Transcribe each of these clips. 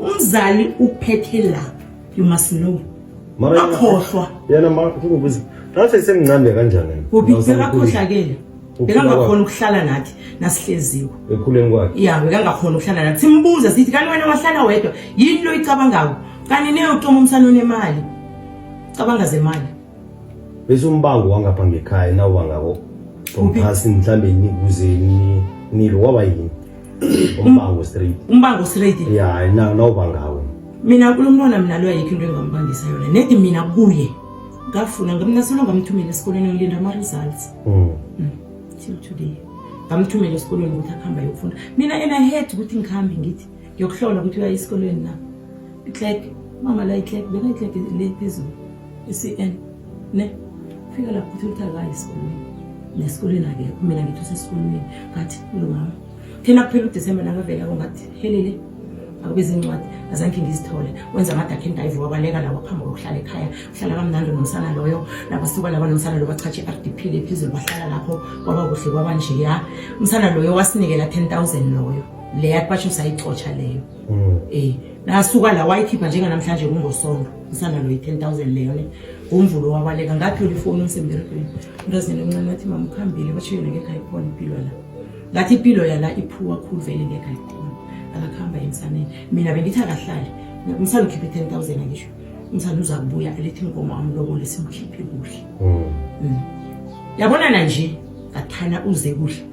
umzali uphethe lapho you must know Mara yena- akhohlwa yena ma kukubuza ngathi semncane kanjani yena? uphi Ngathi usemkhulu. bekakhohlakele Ukhula bekangakhona ukuhlala nathi nasihleziwe ekhuleni kwakhe ya bekangakhona ukuhlala nathi simbuze sithi kanti wena wahlala wedwa yini lo icabangayo kanti neyotoma umsana onemali cabanga zemali bese umbango wangapha ngekhaya nawubangako Uphi? phasi mhlawumbe nikuzeni nilo waba yini umbango straight umbango straight ya na no bangawo mina kulomntwana mina lo ayikho into engambangisa yona nedi mina kuye ngafuna ngamna solo ngamthumela esikoleni ngilinda ama results mm. mm. till today ngamthumela esikoleni ukuthi akhamba yokufunda mina ena head ukuthi ngikhambe ngithi ngiyokuhlola ukuthi uya esikoleni na itlek mama la itlek beka itlek le phezulu I-CN ne fika lapho uthi ukuthi akayi esikolweni nesikolweni akekho mina ngithi usesikolweni ngathi lungama thina kuphela udisemba nakavela kongathi helele akube zincwadi azange ngizithole wenza amadakhe endayivu wabaleka lawo phambi kokuhlala ekhaya uhlala kamnandi nomsana loyo nabasuka laba nomsana loyo bachatshe i-r d p le phezulu bahlala lapho kwaba kuhle kwaba njeya umsana loyo wasinikela 10 000 loyo leya kwasho sayixotsha leyo mm. eh nasuka la wayikhipha njenga namhlanje kungosonto usana lo 10000 leyo ne ngomvulo wabaleka ngathola ifoni ngisemberegweni umntazini omncane wathi mama ukhambile bashiye ngeke ayikhona impilo la ngathi impilo yala iphuwa khulu vele ngeke ayikhona akakhamba emsaneni mina bengithi akahlali umsana ukhiphe 10000 angisho umsana uza kubuya alethi inkomo amlobole simkhiphe kuhle mm. mm. yabonana nje ngathana uze kuhle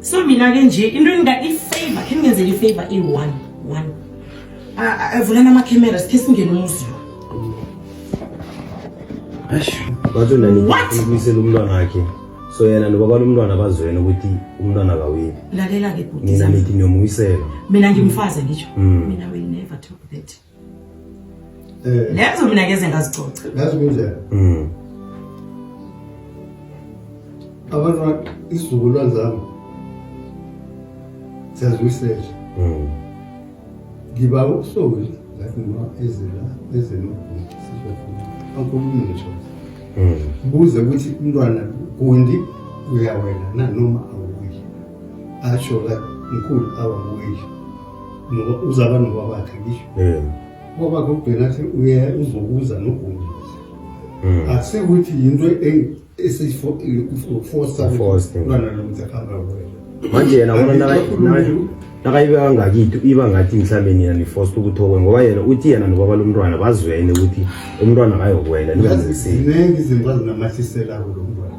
so mina ke nje into enga ifavor khe ngenzele ifavor i-one one avulana amakhamera sikhe singene umuzi lo bathi unanibuyisela umntwana wakhe so yena nobaba lomntwana bazwene ukuthi umntwana kaweli lalela-ke mina nithi niyomuyisela mina ngimfaze ngisho hmm. mina will never talk that Eh. Lezo mina ngeze ngazicoca. Ngazi kunjani? Mhm. Abantu isizukulwane zami siyazwisela. Mhm. Ngiba ukusoli ngathi noma ezela ezela sizokhuluma. Angikhulumi ngisho. Mhm. Buze ukuthi umntwana kundi uyawela na noma awuyi. Asho la mkhulu awuyi. ngoba uzaba nobabakhe ngisho eh. ubabakhe ugcina athi uye uzokuza nogumbi hmm. akusekuthi yinto esiyifosa lwana lo mntu akuhamba kuwena manje yena bona nakayibeka kangakitho iba ngathi mhlawumbe nina nifosta ukuthi okwe ngoba yena uthi yena nobaba lomntwana bazwene ukuthi umntwana akayokwela ningazinisile ziningi izinto azinamahlise labo lo mntwana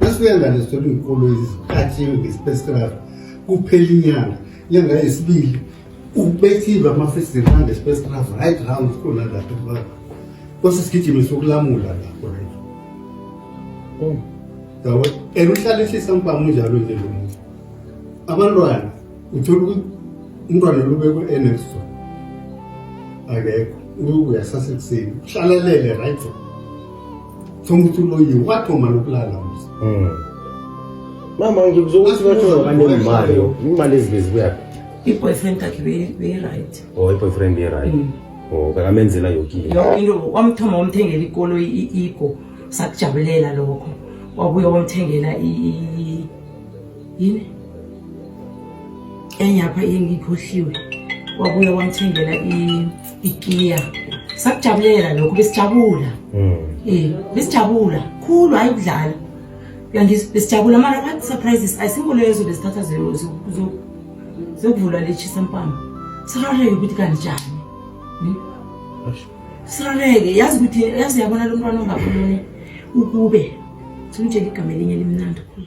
Asuyangane sithola iy'kolo eziphathiwe ngesipesikraf kuphela inyanga inyanga yesibili ubethiwe amafestivali angesipesikraf right round khona lapho baba kwase sigijime sokulamula lapho right oh. yabo and uhlale ehlisa mpama unjalo nje lo muntu abantwana uthola ukuthi umntwana lubekwe enexo akekho uyasasekuseni uhlalalele right Thoma ukuthi uloyiwe wathoma nokulala mzi. Mm. Mama ngikuzwa ukuthi bathola kanti imali yo. Imali ezibezi kuyaphi? I-boyfriend yakhe beyi-right. Oh, i-boyfriend beyi-right. Mm. Oh, kakamenzela yonke into. Yonke into wamthoma wamthengela ikolo i-ego sakujabulela lokho. Wabuye wamthengela i yini? Enyapha engikhohliwe. Wabuye wamthengela i ikiya sakujabulela lokho besijabula mm. eh besijabula khulu hayi ukudlala uyangizwa besijabula mara what surprises ayisikho lezo besithatha zokuvula lechisa mpama sirareke ukuthi kanjani hmm? sirareke yazi ukuthi yazi yabona lo mntwana ongakhuluni ukube simtshela igama elinye limnandi khulu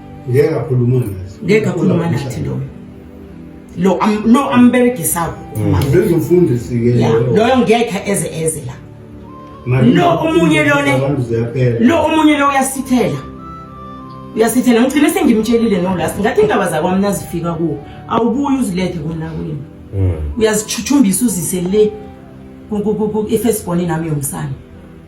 ngeke akhuluma nathi ngeke akhuluma nathi lo lo lo amberegisayo mm. benza umfundisi ke loyo ngeke eze eze la lo omunye lona lo omunye lo uyasithela uyasithela ngigcine sengimtshelile no last ngathi indaba zakwami nazifika kuwo awubuyi uzilethe kona kwini mm. uyazichuthumbisa uzise le ifesibhoni nami yomsana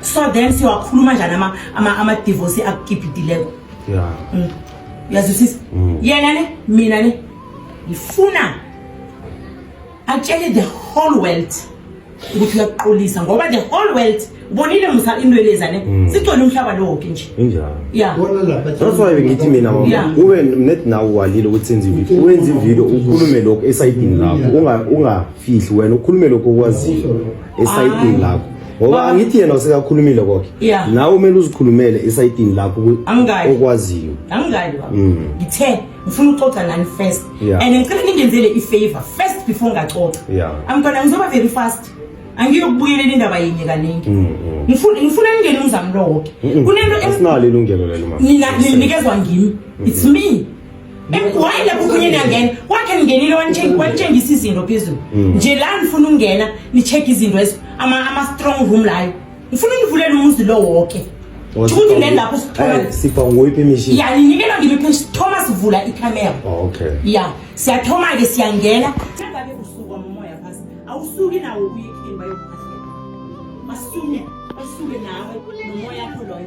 so then siwakhuluma njani ama ama ama divorce akukiphitileko yeah mm. yazisisa mm. yena ne mina ne ngifuna atshele the whole world ukuthi uyaqolisa ngoba the whole world bonile musa intweleza ne mm. sigcwele umhlaba lowo ke nje injalo yeah bona lapha that's why ngithi mina mama ube net nawo walile ukuthi senze ivideo wenze ivideo ukhulume lokho esayidini lakho unga ungafihli wena ukhulume lokho okwaziyo esayidini lakho ngoba angithi yena usekakhulumile koke yeah. nawe umele uzikhulumele esayidini lakho okwaziyo angikali baba mm. ngithe ngifuna uxoxa nani first yeah. and ngicela ningenzele i-favor first before ngaxoxa yeah. amntwana ngizoba very fast angiyokubuyelela indaba yinye kaningi mm, mm. ngifuna ningene umzami lowoke kunento asinalo ilungelo lelo mama nina ninikezwa ngimi it's me Why lapho kunye niyangena wakhe ningenile wanitshengisa izinto phezulu mm. nje la nifuna ukungena ni-check izinto ama-strong room layo ngifuna univulela umuzi lo woke ukuthi le lapho sipha nguyiphi imishini ya ninikela ngimiphi sithoma sivula ikamera oh, okay ya siyathoma-ke siyangena sengabe usuka momoya phasi awusuki nawo ubuye ekheni bayokuphahlela basuke basuke nawe nomoya kho loyo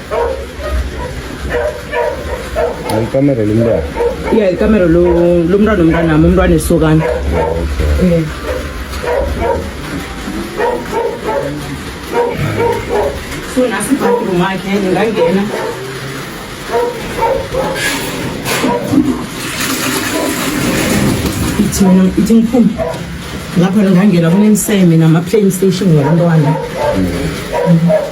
Alikamero lomntwana. Yeah, alikamero lo lomntwana omntwana nami umntwana esokana. Okay. Yeah. So nasi bathroom yakhe ngingangena. Ithi mina ithi ngiphume. Lapha ngingangena kunemiseme nama playstation ngabantwana. Mm -hmm.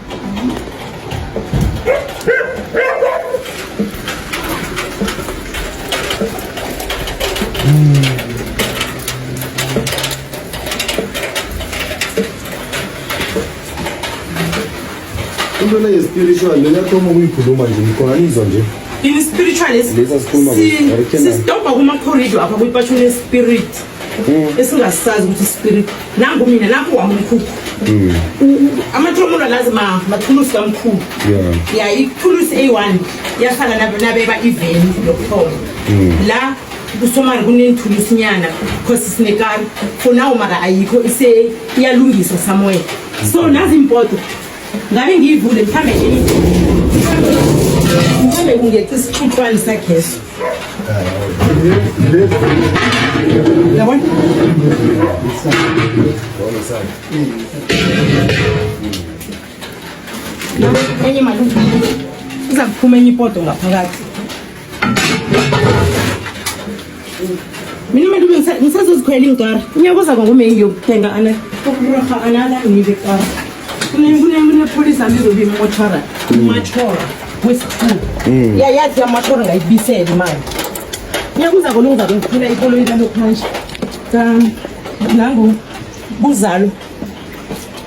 into le ye-spiritual le yathoma ukuyikhuluma nje ngikhona nizwa nje ini-spiritual Lesi asikhuluma kuso. sisidobha kuma-corridor apha kwipashuni ye-spirit mm. esingasazi ukuthi spirit nangu mina nakho wami umkhukhu mm. amathululo lazi ma mathulusi kamkhulu ya ithulusi eyi-one yasala nabeba iveni lokuthoma mm. la kusomari kunenithulusinyana because sinekari for now mara ayikho iyalungiswa somewhere so nazi impoto ngabe ngiyivule mhlambe mhlambe kungeqa isixuxwane sagesi yabona enye malume iza kuphuma enye ipoto ngaphakathi Mina manje ube ngisazozikhwela ingikara. Ngiyakuza kwa ngome ngiyokuthenga ana ukuraha another ngile kara. Kune kune kune police amizobi motora. Motora wesikhulu. Mm. Ya yazi ya motora ngayibisela imali. Ngiyakuza kwa lunga ngikuphinda ikolo into lokho manje. Cha nangu buzalo.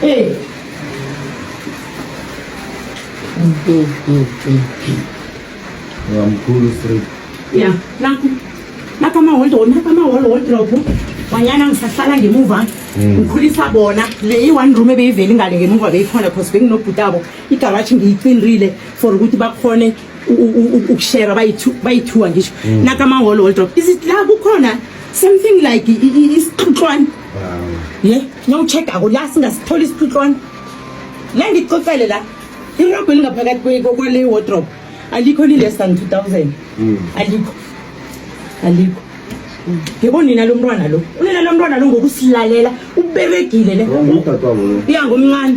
Hey. Mkhulu straight. Yeah, nakho. Nakho ama hold on, nakho ama hold on drop. Wanyana ngisahlala ngemuva. Hmm. Ngikhulisa bona. Le yi one room ebeyiveli ngale ngemuva beyikhona because benginobhutabo. Igaraji ngiyicindile for ukuthi bakhone ukushera bayithiwa ngisho mm. nakamaholo wodrop is it la kukhona something like isixuxwana ye niyowucheck-ako la singasitholi isixuxwana la ngixoxele la irobho elingaphakathi kwale wodrop alikho li-less than two thousand mm. alikho alikho yebo nina lo mntwana lo unina lo mntwana lo ngokusilalela uberegile le iya ngomncane